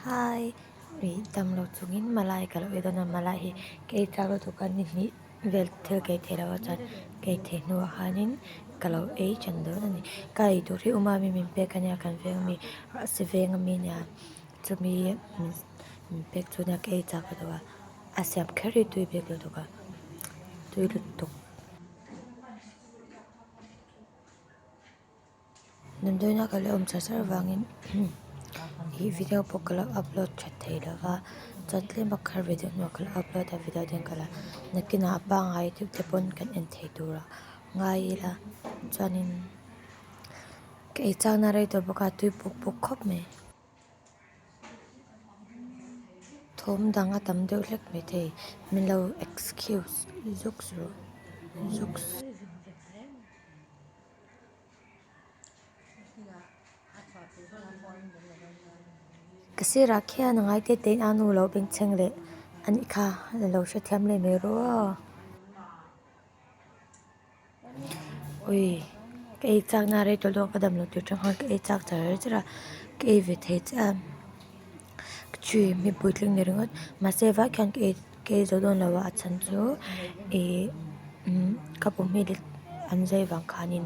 Hi, ri tam lo chungin Malai ka lo ei dawn a, Malai hi kei tlak lutuk a chuan nihnih vel thil kei thei loh a chuan kei thei hnu ah hianin ka lo ei than dawn a ni. Ka ei tur hi Umami min pek a nia kan veng ami a si veng ami nia chumi min pek chu nia ka ei chak lutuk a, a siam kher hi tui bik lutuk a, tui lutuk. Damdawiin a ka la awm char char vangin he video pawh ka la upload tha thei lo va, chuan tlema kar ve deuh hnuah ka la upload a video te ka la nakin a pangngai deuh te pawn kan en thei tur a ngai ila chuanin ka ei chakna a rei tawh bawk a tui puk puk khawp mai thawm dang a tam deuh hlek mai thei min lo excuse zuk suh zuk suh. Ka sirah khian a ngaite tein a nu lo bengchheng leh anih kha a lo hrethiam leh mai rua a. Ui, ka ei chakna a rei tawlh dawn a, ka dam lo tir ṭang khan ka ei chak char char a, ka ei ve thei chiah a, ka ṭhi hmibui tling leh ringawt. Mahse vai khian ka ei. Kei zo dawn lo a chhan chu ihh umm ka pu hmel hi an zai vang khanin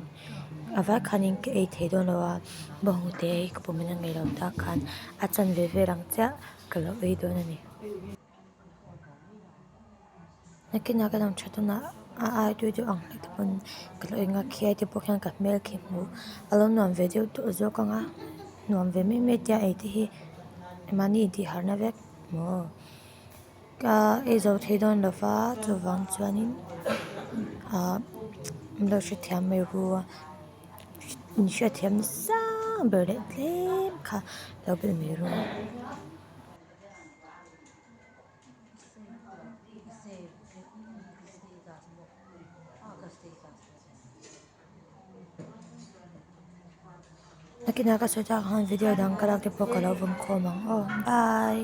a vai khanin ka ei thei dawn lo a bo hu te hi ka pu hmel a ngaih lo tak khan a chan ve vel ang chiah ka lo ei dawn a ni. Nakin a ka lang tha dawn a a aitu deuh ang hle te pawh ka lo ei nghal khi aite pawh khian ka hmel khi hmuh a lo nuam ve deuh tawh zawk ang a nuam ve mai mai tia ei te hi mahni intih harh na vek maw. Ka eizo thei dawn lo va, chuvang chuanin ah min lo hrethiam mai hu a, min hrethiam nasa ber leh tlem kha lo bel mai ru a. Nakina ka sawi chak han video dang ka lakte pawh ka lo vawm khawm ang aw bye.